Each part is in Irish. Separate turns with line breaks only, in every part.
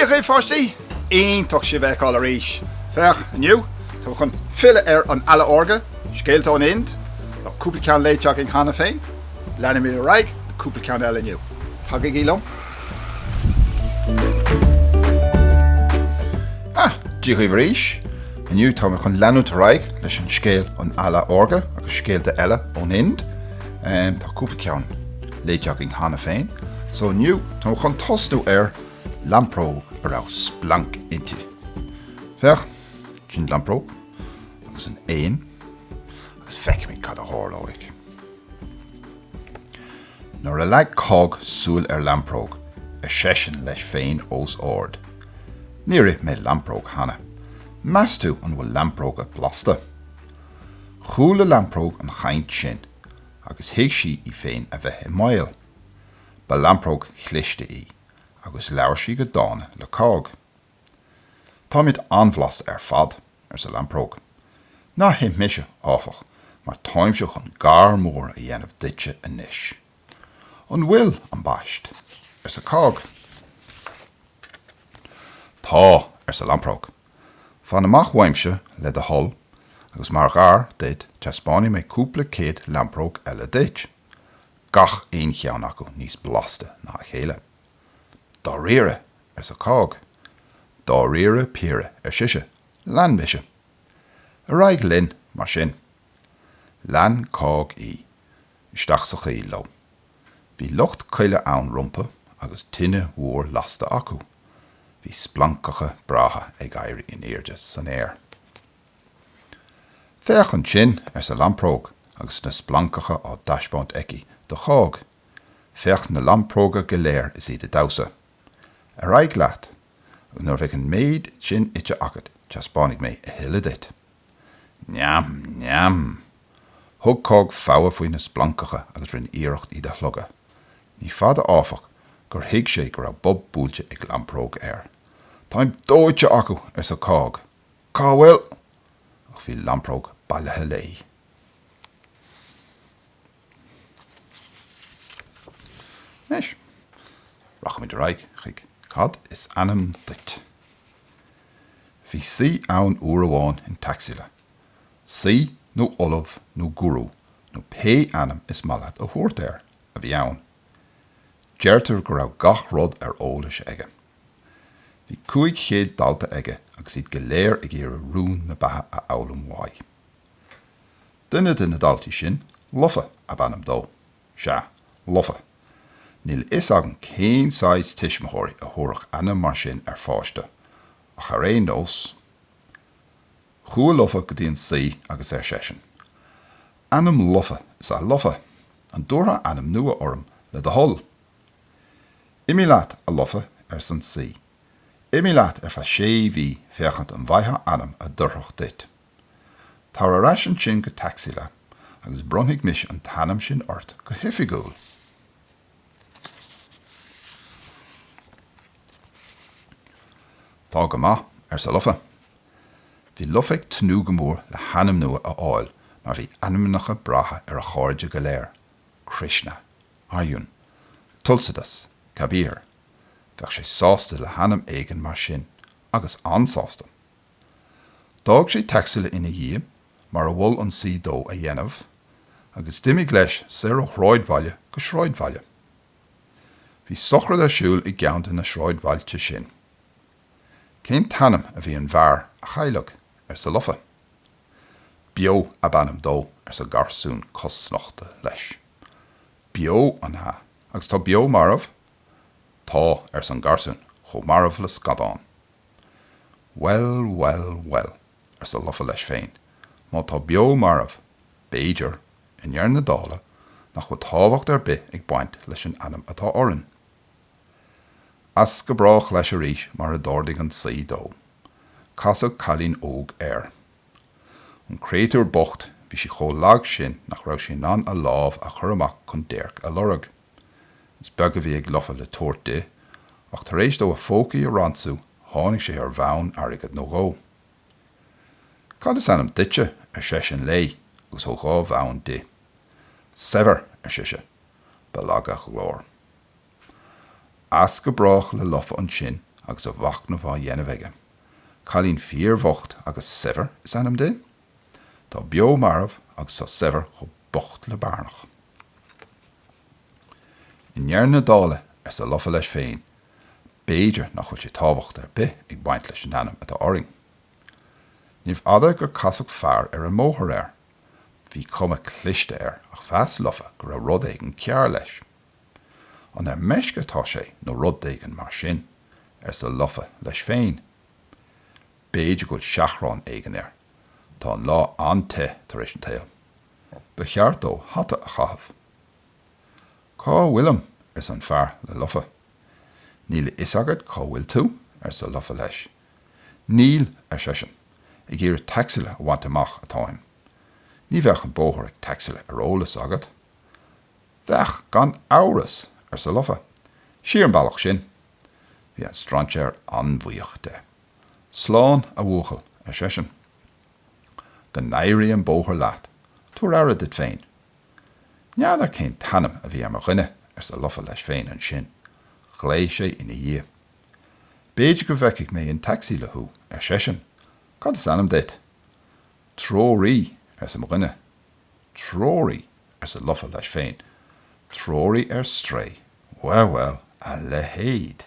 Dia dhaoibh a pháistí! Iontach sibh a fheiceáil arís! Féach, inniu, tá mé chun filleadh ar An Eala Órga, Scéalta ón Ind, tá cúpla ceann léite againn cheana féin, leanfaidh mé ar aghaidh le cúpla ceann eile inniu. Tagaigí liom! Dia dhaoibh arís. Inniu tá mé chun leanúint ar aghaidh leis an scéal An Eala Órga agus scéalta eile ón Ind. Tá cúpla ceann léite againn cheana féin so inniu tá mé chun tosnú ar lampróg a raibh splanc inti. Féach, sin lampróg agus an éan agus feicfimid cad a tharlóidh. Nuair a leag Cág súil ar Lampróg, ar seisean leis féin os ard, Níor ith mé lampróg cheana. Meas tú an bhfuil lampróga blasta? Chuala Lampróg an chaint sin agus thuig sí í féin a bheith i mbaol. Ba lampróg chliste í agus labhair sí go dána le Cág. Táimid an-bhlasta ar fad, arsa Lampróg. Ná hith mise, áfach, mar táimse chun gar mór a dhéanamh duitse anois. An bhfuil, am baist? arsa Cág. Tá, arsa Lampróg. Fan amach uaimse, le do thoil, agus mar ghar duit teaspáinfidh mé cúpla céad lampróg eile duit, gach aon cheann acu níos blasta ná a chéile. Dáiríre, arsa Cág. Dáiríre píre, ar sise. Lean mise. Ar aghaidh linn, mar sin. Lean Cág í. Isteach sa choill leo. Bhí lucht coille ann rompu agus tine mhór lasta acu. Bhí splancacha breátha ag éirí in airde san aer. Féach ansin, arsa Lampróg agus na splancacha á dtaispeáint aici do Chág. Féach na lampróga go léir is iad ag damhsa. Ar aghaidh leat agus nuair a bheidh an méid sin ite agat, teaspáinfidh mé a thuilleadh duit. Neam! Neam! Thug Cág fogha faoi na splancacha agus rinne iarracht iad a shlogadh. Ní fada, áfach, gur thuig sé go raibh bob buailte ag lampróg air. Táim dóite acu! arsa Cág. Cá bhfuil.? Ach bhí lampróg bailithe léi. Anois, rachaimid ar aghaidh chuig Cad is ainm duit? Bhí saoi ann uair amháin in Taxila. Saoi, nó ollamh, nó guru, nó pé ainm is maith leat a thabhairt air, a bhí ann. Deirtear go raibh gach rud ar eolas aige. Bhí cúig chéad dalta aige agus iad go léir ag iarraidh rún na beatha a fhoghlaim uaidh. Duine de na daltaí sin, Lofa ab ainm dó. Sea, Lofa. Níl a fhios agam cén saghas tuismitheoirí a thabharfadh ainm mar sin ar pháiste, ach ar aon nós, chuaigh Lofa go dtí an saoi agus ar seisean, Ainm lofa is ea Lofa. An dtabharfá ainm nua orm, le do thoil? Imigh leat, a Lofa, arsa an saoi. Imigh leat ar feadh sé mhí féachaint an bhfaightheá ainm a d'oirfeadh duit. Tar ar ais ansin go Taxila agus bronnfaidh mise an t-ainm sin ort go hoifigiúil. Tá go maith, arsa Lofa. Bhí Lofa ag tnúth go mór le hainm nua a fháil mar bhí ainmneacha breátha ar a chairde go léir, Krishna, Arjun, Tulsidas, Kabir. Bheadh sé sásta le hainm éigin mar sin agus an-sásta. D'fhág sé Taxila ina dhiaidh, mar a mhol an saoi dó a dhéanamh, agus d'imigh leis soir ó shráidbhaile go sráidbhaile. Bhí sochraid ar siúl i gceann de na sráidbhailte sin. Cén t-ainm a bhí ar an bhfear a cailleadh? arsa Lofa. Beo ab ainm dó, arsa garsún cosnochta leis. Beo, an ea, agus tá Beo marbh? Tá, arsa an garsún, chomh marbh le scadán. Bhuel, bhuel, bhuel, arsa Lofa leis féin, má tá Beo marbh, b'fhéidir, i ndeireadh na dála, nach bhfuil tábhacht ar bith ag baint leis an ainm atá orainn. As go brách leis arís mar a d'ordaigh an Saoi dó. Casadh cailín óg air. An créatúr bocht, bhí sí chomh lag sin nach raibh sí in ann a lámh a chur amach chun déirc a lorg. Is beag a bhí ag Lofa le tabhairt di, ach tar éis dó a phócaí a ransú tháinig sé ar bhonn airgid nó dhó. Cad is ainm duitse? ar seisean léi agus thug dhá bhonn di. Saibhir! ar sise. Ba lag a glór. As go brách le Lofa ansin agus a mhachnamh á dhéanamh aige. Cailín fíorbhocht agus Saibhir is ainm di? Tá beo marbh agus tá saibhir chomh bocht le bairneach. I ndeireadh na dála, arsa Lofa leis féin, b'fhéidir nach bhfuil aon tábhacht ar bith ag baint leis an ainm atá orainn. Níorbh fhada gur casadh fear ar an mbóthar air. Bhí cuma chliste air ach mheas Lofa go raibh rud éigin cearr leis. An ar meisce atá sé nó rud éigin mar sin? arsa Lofa leis féin. B'fhéidir go bhfuil seachrán éigin air. Tá an lá an-te tar éis an tsaoil. Ba cheart dó hata a chaitheamh. Cá bhfuilim? arsa an fear le Lofa. Níl a fhios agat cá bhfuil tú? arsa Lofa leis. Níl, ar seisean, ag iarraidh Taxila a bhaint amach atáim. Ní bheadh an bóthar go Taxila ar eolas agat? Bheadh gan amhras, arsa Lofa. Siar an bealach sin. Bhí an strainséir an-bhuíoch de. Slán, a bhuachaill, ar seisean. Go n-éirí an bóthar leat, tabhair aire duit féin. N'fheadar cén t-ainm a bhí ar mo dhuine, arsa Lofa leis féin ansin. Ghlaoigh sé ina dhiaidh. B'fhéidir go bhfeicfidh mé in Taxila thú, ar seisean. Cad is ainm duit? Treoraí, arsa mo dhuine. Treoraí? arsa Lofa leis féin. Treoraí ar strae. Bhuel, bhuel, a leithéid.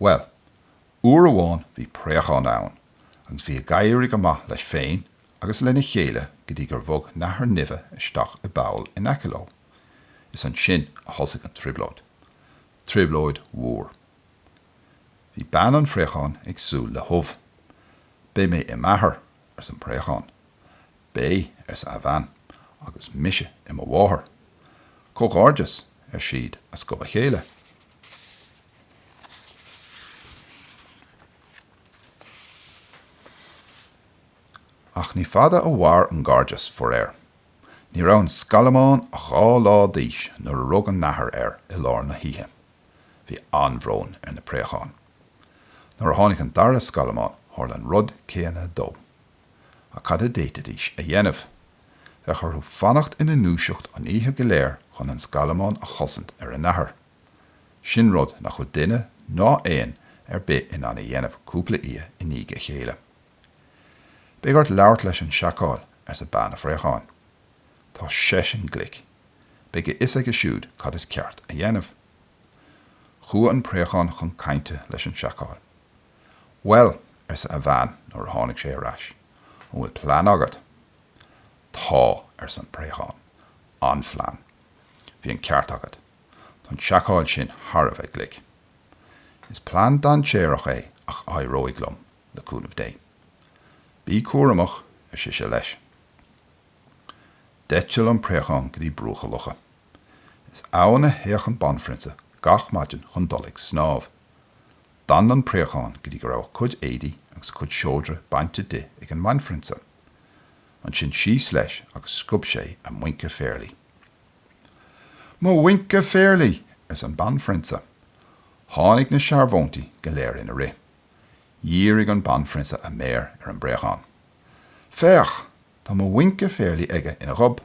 Bhuel, uair amháin bhí préachán ann agus bhí ag éirigh go maith leis féin agus lena chéile go dtí gur bhog nathair nimhe isteach i bpoll in aice leo. Is ansin a thosaigh an trioblóid. Trioblóid mhór. Bhí bean an phréacháin ag súil le hubh. Beidh mé i m'athair, arsa an préachán. Beidh, arsa a bhean, agus mise i mo mháthair. Comhghairdeas, ar siad as gob a chéile. Ach ní fada a mhair an gairdeas, faraor. Ní raibh an scallamán ach dhá lá d'aois nuair a rug an nathair air i lár na hoíche. Bhí an-bhrón ar na préacháin. Nuair a tháinig an dara scallamán, tharla an rud céanna dó. Ach cad a d'fhéadfaidís a dhéanamh? Bheadh orthu fanacht ina ndúiseacht an oíche go léir chun an scallamán a chosaint ar an nathair. Sin rud nach bhfuil duine ná éan ar bith in ann a dhéanamh cúpla oíche i ndiaidh a chéile. Beidh ort labhairt leis an seacál, arsa bean an phréacháin. Tá seisean glic. Beidh a fhios aige siúd cad is ceart a dhéanamh. Chuaigh an préachán chun cainte leis an seacál. Bhuel, arsa a bhean nuair a tháinig sé ar ais, an bhfuil plean agat? Tá, arsa an préachán, an-phlean. Bhí an ceart agat. Tá an seacál sin thar a bheith glic. Is plean dainséarach é ach éireoidh liom, le cúnamh Dé. Bí cúramach, ar sise leis. D'eitil an préachán go dtí bruach an locha. Is ann a théadh an banphrionsa gach maidin chun dul ag snámh. D'fhan an préachán go dtí go raibh a cuid éadaí agus a cuid seodra bainte di ag an mbanphrionsa. Ansin síos leis agus sciob sé a muince phéarlaí. Mo mhuince phéarlaí! arsa an banphrionsa. Tháinig na searbhóntaí go léir ina rith. Dhírigh an banphrionsa a méar ar an bpréachán. Féach! Tá mo mhuince phéarlaí aige ina ghob,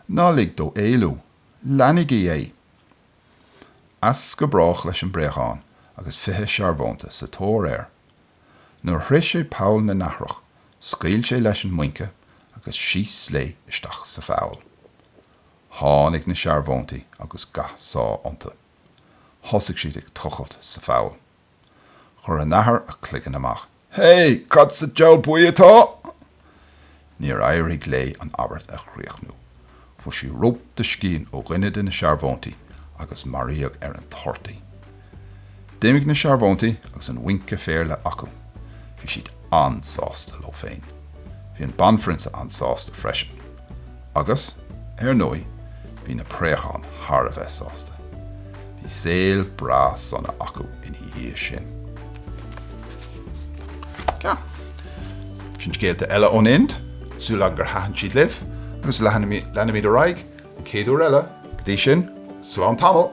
ná lig dó éalú, leanaígí é! As go brách leis an bpréachán agus fiche searbhónta sa tóir air. Nuair a shroich sé poll na nathrach, scaoil sé leis an muince agus síos léi isteach sa pholl. Tháinig na searbhóntaí agus ga seá iontu. Thosaigh siad ag tochailt sa pholl. Chuir an nathair a cloigeann amach. Hé, cad sa diabhal buí atá? Níor éirigh léi an abairt a chríochnú. Fuair sí rop de scian ó dhuine de na searbhóntaí agus maraíodh ar an toirt í. D'imigh na searbhóntaí agus an mhuince phéarlaí acu. Bhí siad an-sásta leo féin. Bhí an Banphrionsa an-sásta freisin. Agus, ar ndóigh, bhí na préacháin thar a bheith sásta. Bhí saol breá sona acu ina dhiaidh sin. Sin scéalta eile ón Ind, súil agam gur thaitin siad libh, agus leanfaimid ar aghaidh an chéad uair eile. Go dtí sin, slán tamall!